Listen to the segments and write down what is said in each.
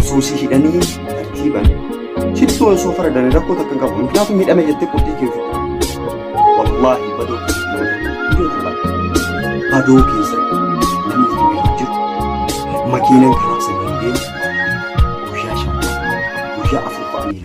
Osoo si hidhanii tartiiban sittuu osoo faradame rakkoo takka hin qabu. Muknaatu miidhame jettee qurxii kee ofitti. Wallaahi badoo badoo keessatti namni itti beeku jiru. Makiinaan karaa sana hin deemu. Guyyaa shan guyyaa afur fa'anii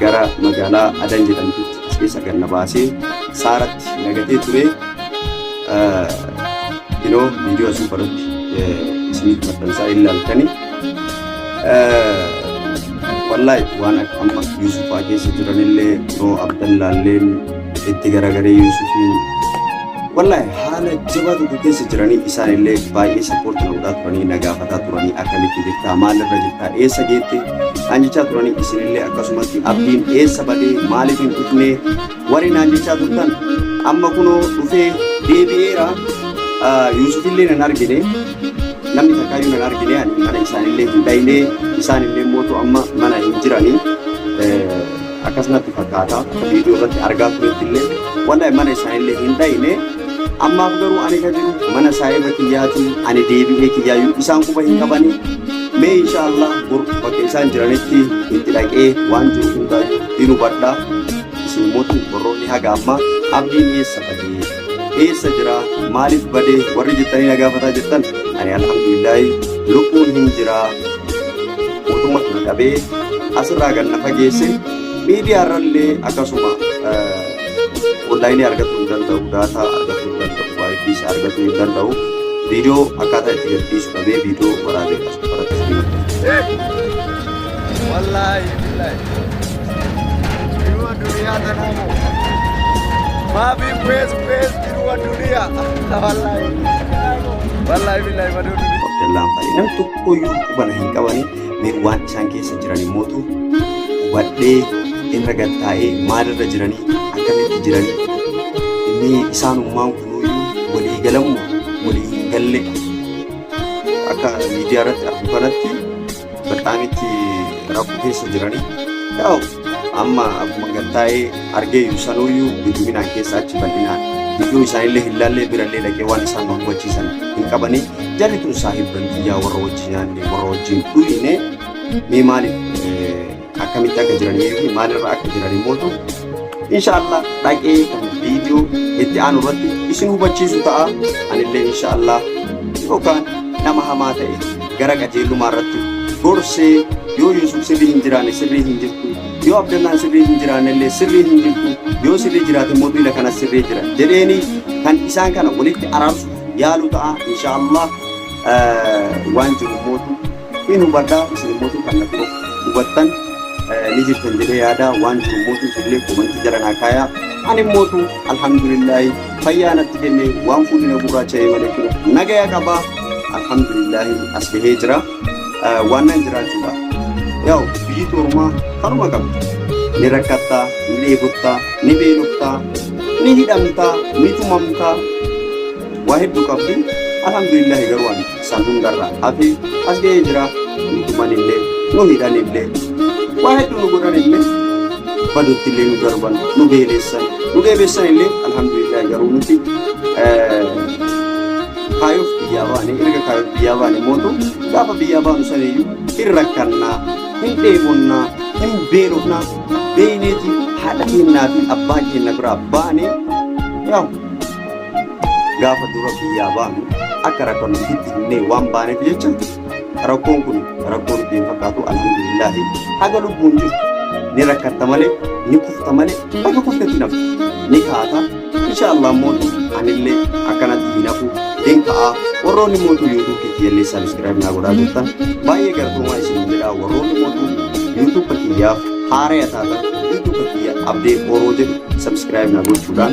gara magaalaa Adan jedhamtutti as keessa gad na baasee saaratti nagatee ture inoo viidiyoo as gubbarratti isiniif maxxansaa ilaaltani wallaahi waan akka amma Yuusufaa keessa jiranillee kunoo Abdallaalleen itti garagaree Yuusufiin Wallahi haala jabaa tokko keessa jiranii isaan illee baay'ee sappoortii na godhaa turanii na gaafataa turanii akkamitti jirtaa maalirra jirtaa eessa geette naan jechaa turanii isin illee akkasumatti abdiin eessa badee maaliif hin dhufne warri naan jechaa turtan amma kunoo dhufee deebi'eera Yuusuf illee nan argine namni takkaayyuu nan argine ani mana isaanillee hin dhayne isaan illee mootu amma mana hin jiranii akkas natti fakkaata viidiyoo irratti argaa turetti illee wallahi mana isaa illee hin dhayne ammaaf garuu ani ka jiru mana isaa irra kiyyaatiin ani deebi'ee kiyyaayyuu isaan quba hin qabani mee insha allah bor bakka isaan jiranitti itti dhaqee waan jiru hundaayyuu hin hubadha isin mootu borroonni haga ammaa abdiin eessa bahee eessa jira maaliif badee warri jettanii na gaafataa jirtan ani alhamdulillaahi lubbuun hin jira mootummaa kana dhabee asirraa gad na fageesse miidiyaa irrallee akkasuma onlaayinii argachuu hin danda'u daataa argachuu hin danda'u waayifii argachuu hin danda'u viidiyoo akkaataa itti gadhiisu dhabee viidiyoo waraabee as baratee wallaahi billaahi jiruu addunyaa tanaa moo maafi bees bees jiruu addunyaa wallaahi wallaahi billaahi maduu Abdallaan fa'i nam tokkoyyuu qubana hin qabani mee waan isaan keessa jiran immootu hubadhee irra gad taa'ee maalirra jiranii akkamitti jiranii inni isaanummaan kunuyyuu walii galamu walii hin galle akka miidiyaa irratti argu kanatti baqaan itti rakkoo keessa jirani. Yaa'u amma akkuma gad taa'ee argeeyyu sanuuyyuu hedduminaan keessa achi bal'inaan gidduu isaanillee hin laallee birallee dhaqee waan isaan nu hubachiisan hin qabani. Jarri kun saahibban biyyaa warra wajjin nyaanne warra wajjin dhuyine mee maaliif akkamitti akka jiranii fi maalirra akka jiran immoo ta'u inshaallah dhaqee kan viidiyoo itti aanu irratti isin hubachiisu ta'a anillee inshaallah yookaan nama hamaa ta'e gara qajeellumaa irratti gorsee yoo Yuusuf sirrii hin jiraanne sirrii hin jirtu yoo Abdallaan sirrii hin jiraanne illee sirrii hin jirtu yoo sirrii jiraate immoo duula kana sirrii jira jedheeni kan isaan kana walitti araarsu yaalu ta'a inshaallah waan jiru mootu Hin hubadha isin immoo kan na biroo hubattan ni jirtan jedhee yaada waan jiru immoo isinillee komantii jala naa kaayaa. Ani immoo alhamdulillaahi fayyaa natti kenne waan fuulli na gurraacha'ee malee kino nagaya qaba. Alhamdulillaahi as gahee jira. Waan nan jiraachuudha. Yaa'u biyyi toorumaa kanuma qabdi. Ni rakkattaa, ni dheebottaa, ni beeloftaa, ni hidhamtaa, ni tumamtaa. Waa hedduu qabdi. Alhamdulillaahi garuu ani san hundarra hafe as ga'ee jira nu tumanillee nu hidhanillee waa hedduu nu godhanillee badutti illee nu darban nu beeleessan nu beeleessan illee alhamdulillah garuu nuti kaayoof biyyaa baane erga kaayoof biyyaa baane mootu gaafa biyyaa baanu saniyyuu hin rakkannaa hin dheebonnaa hin beelofnaa beeyneeti haadha kennaa fi abbaa kenna biraa baane yaa'u gaafa dura biyyaa baanu akka rakkoon itti himnee waan baaneef jecha rakkoon kun rakkoo nutti hin fakkaatu alhamdulillaahi haga lubbuun jiru ni rakkatta malee ni kufta malee bakka kuftetti nafu ni kaata insha allah mootu anillee akkanatti hin hafu hin ka'a warroonni mootu yuutuub kiyyallee sabiskiraayib naa godhaa jirtan baay'ee galatoomaa isin jedha warroonni mootu yuutuuba kiyyaaf haaraya taatan yuutuuba kiyya abdee booroo jedhu sabiskiraayib naa gochuudhaan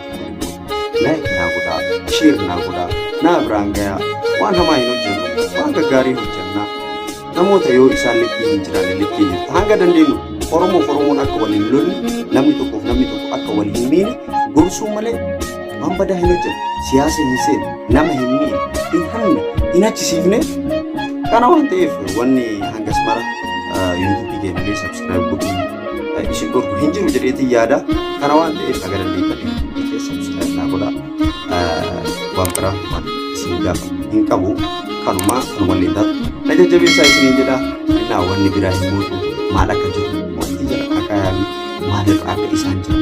Like naa godhaa, share naa godhaa, naa biraan gayaa. Waan hamaa hin hojjennu, waan gaggaarii hojjennaa. Namoota yoo isaan likkii hin jiraanne likkii jirta. Hanga dandeenyu Oromoof Oromoon akka wal hin lolle, namni tokkoof namni tokko akka wal hin miine gorsuu malee waan badaa hin hojjennu. Siyaasa hin seenu, nama hin miine, hin hanne, hin achisiifne. Kana waan ta'eef wanni hangas mara yuutuubii keenya keessa isin dhorku hin jiru jedheetiin yaada kana waan ta'eef haga dandeettanii hundii keessa subscribe naa godha waan biraa waan isin gaafa hin qabu kanuma kan wanni taatu na jajjabeessaa isiniin jedha innaa wanni biraa hin muutu maal akka jiru wanti jira akka yaami maalirra akka isaan jiru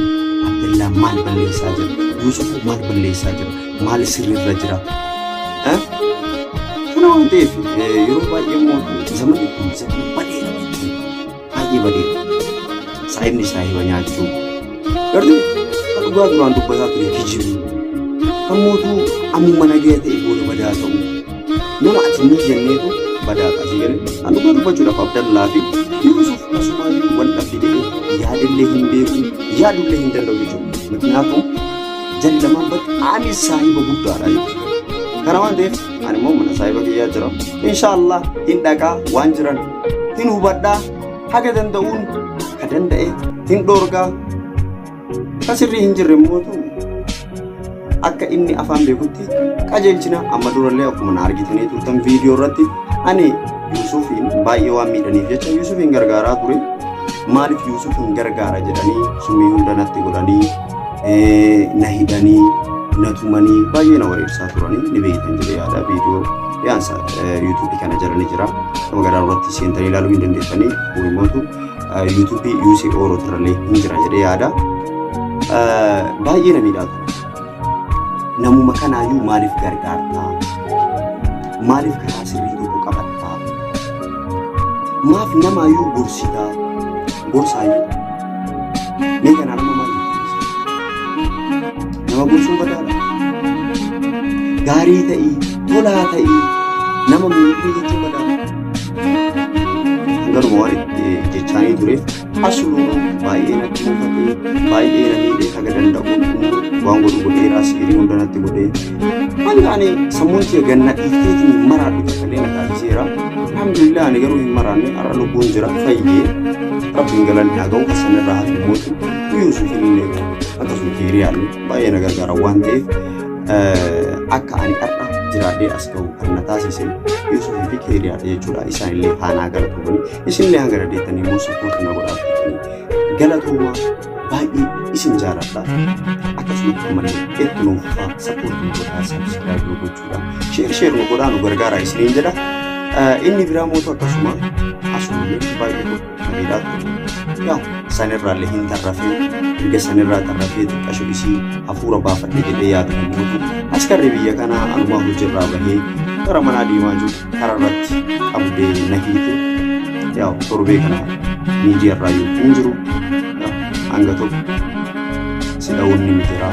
abdallaa maal balleessaa jira yuusuf maal balleessaa jira maal sirrirra jira kana waan ta'eef yeroo baay'ee immoo zamanni kun zamanni baay'ee baay'ee badeera. Saayibni saayiba nyaachuu. Garuu kan dhugaa duraan dubbataa ture kijibuu. Kan mootuu ammuma nagaya ta'e booda badaa ta'uu. Nama ati ni jenneetu badaa taasii jedhe. Kan dhugaa dubbachuudhaaf Abdallaa fi Yuusuf asumaayyuu wal dhabde jedhee yaadillee hin beeku yaadullee hin danda'u jechuudha. Miknyaatuun jallamaan bakka ani saayiba guddaadha jechuudha. Kana waan ta'eef ani immoo mana saayiba kiyyaa jira. Inshaallah hin dhaqaa waan jiran hin hubadhaa haga danda'uun ka danda'e hin dhoorgaa ka sirrii hin jirre immoo akka inni afaan beekutti qajeelchina amma durallee akkuma na argitanii turtan viidiyoo irratti ani Yuusufiin baay'ee waan miidhaniif jecha Yuusufiin gargaaraa ture maaliif Yuusufiin gargaara jedhanii summii hunda natti godhanii na hidhanii na tumanii baay'ee na wareersaa turanii ni beektan jedhee yaada viidiyoo yaansa yuutuubii kana jala ni jira. Nama garaa irratti seentanii ilaaluu hin dandeessanii gurimootu yuutuubii yuusii ooroo turallee hin jira jedhee yaada. Baay'ee na miidhaa ture. Namuma kanaayyuu maaliif gargaartaa? Maaliif karaa sirrii tokko qabattaa? Maaf namaayyuu gorsitaa? Gorsaayyuu Mee kanaan amma maal nama gorsuu badaadha. Gaarii ta'ii, tolaa ta'ii, nama miidhuu jechuun badaadha. Garuma waan itti jechaanii tureef asuma baay'ee natti mufatee baay'ee na miidhee haga danda'u waan godhu godheeraas hirii hundanatti godhee Ani ani sammuun kiyya ganna dhiifteetiin maraadhu jedhamee na taasiseera. Alhamdulillah ani garuu hin maraanne har'a lubbuun jira fayyee rabbiin galanni haa ga'u kasan irraa hafi mootu guyyuu suuf hin illee akkasuma kiiriyaan baay'ee na gargaara waan ta'eef akka ani har'a jiraadhee as ga'u kan na taasise Yuusufii fi kiiriyaadha jechuudha isaan illee haanaa galatoomanii isin illee hanga dhadeettanii immoo sappoortii na godhaa galatooma. baay'ee isin jaaladha akkasumas ammallee itti nuuf fufaa sappoortii godhaa sabskiraayib nu gochuudha sheer sheer nu godhaa nu gargaaraa isiniin jedha inni biraa mootu akkasuma asuullee baay'ee gurguddadha yaa sanirraallee hin tarrafee erga sanirraa tarrafee xiqqasho isii hafuura baafadhe jedhee yaadu hin mootu askarri biyya kanaa anumaa hojirraa bahee gara manaa deemaa jiru kararratti qabdee na hiite yaw torbee kana miidiyaa irraa yoo hin jiru hanga tokko si dha'uun ni jira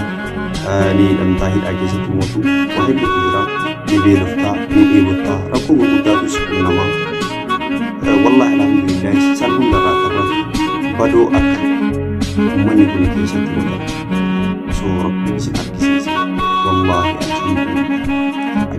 ni hidhamtaa hidhaa keessatti mootu waa hedduutu jira ni beeloftaa ni dheebottaa rakkoo gurguddaatu si qunnama wallaahi alhamdulillah san hundarraa karratu badoo akka ummanni kun keessatti mudatu so rabbiin si argisiisa wallaahi alhamdulillah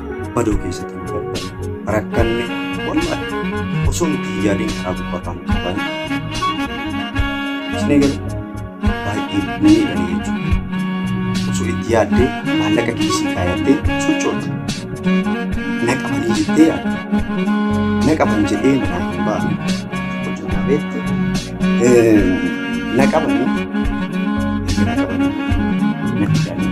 badoo keessatti nu dadhabne rakkanne wallahi osoo nuti hin yaadin karaa gubbataa nu qaban isin eegalu baay'ee nu miidhame jechuudha osoo itti yaaddee maallaqa keessi kaayattee sochoota na qabanii jettee yaadda na qaban jedhee manaa hin baane hojjetaa beekti na qabanii na qabanii na fidanii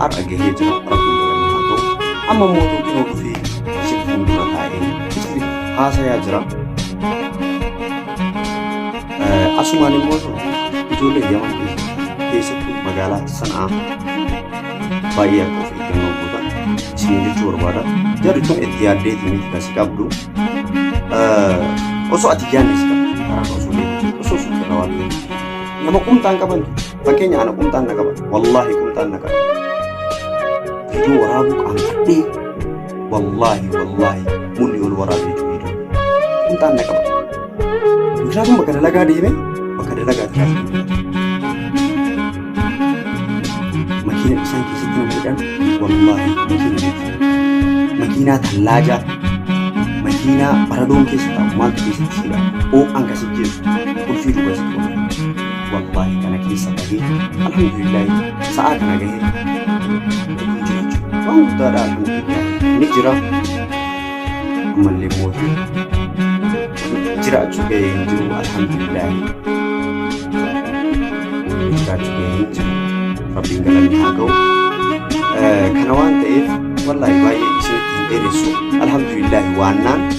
har'a gahee jira rabbiin galanii haa ta'u amma immoo tokko dhufee si fuuldura taa'ee isiniif haasayaa jira Eh, asumaan immoo ijoollee yaman keessattuu magaalaa sanaa baay'ee akka of eeggannoo gootan isin jechuu barbaada jarri tun itti yaaddeetii miti kasi qabdu Eh, osoo ati yaadne si qabdu karaa osoo deemtu osoo suuqirra waan ta'eef nama kumtaan qabantu Fakkeenya ana qumxaan na qaba. Wallaahi qumxaan na qaba. Viidiyoo waraabuu qaanfadhee wallaahi wallaahi mulli ol waraabee jiru viidiyoo. Qumxaan na qaba. Mucaatiin bakka dalagaa deeme bakka dalagaa taraa Makiina isaan keessatti nama jedhan wallaahi makiina jechuudha. Makiinaa tallaajaa makiinaa baradoon keessa taa'u maaltu keessatti siidha. Oo'aan kasi jeesu qulfii duuba isa wallahi kana keessa bahee alhamdulillahi sa'aa kana gahee lubbuun jiraachuu waan guddaadha alhamdulillahi ni jira ammallee mootii jiraachuu gahee hin jiru alhamdulillahi jiraachuu gahee hin jiru rabbiin galanni haa ga'u kana waan ta'eef wallahi baay'ee isinitti hin dheeressu alhamdulillahi waannaan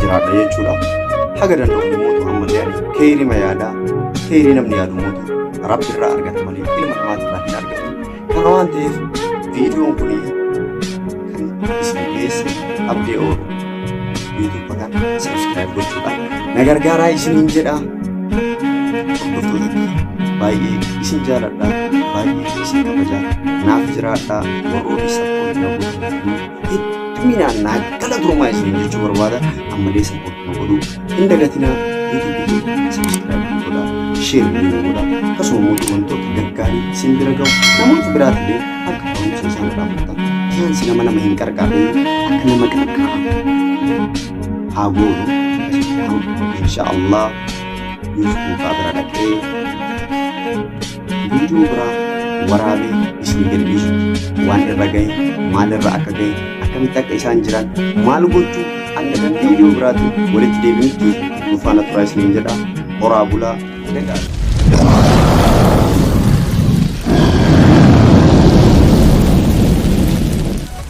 jiraadha jechuudha. Haga danda'u mootu amma ta'ani keerima yaadaa keerii namni yaadu mootu rabbi irraa argata malee ilma namaati irraa hin argatu. Kana waan ta'eef viidiyoon kun kan isin geesse abdee oolu yuutuuba kana sabiskiraayib gochuudhaan na gargaaraa isiniin jedha. Hordoftoota baay'ee isin jaaladha baay'ee isin kabaja naaf jiraadha warroota sabboon na gochuuf Hedduminaan naa galatoomaa isin jechuu barbaada. Ammallee support nu godhuu hin dagatinaa. YouTube keenya subscribe nu godhaa. Share nu godhaa. Akkasuma immoo wantoota gaggaarii isin bira gahu namoota biraatilee akka barumsa isaan irraa fudhatan. Fiyaansi nama nama hin qarqaarre akka nama qarqaaru haa goonu. Inshaallah YouTube kaa bira dhaqee Viidiyoo biraa waraabee isin deebisu. Waan irra gahe, maal irra akka gahe, akkamitti akka isaan jiran, maal gochuu akka danda'e viidiyoo biraatiin walitti deebinutti nu faana turaa isiniin jedha. Horaa bulaa. Nagaa.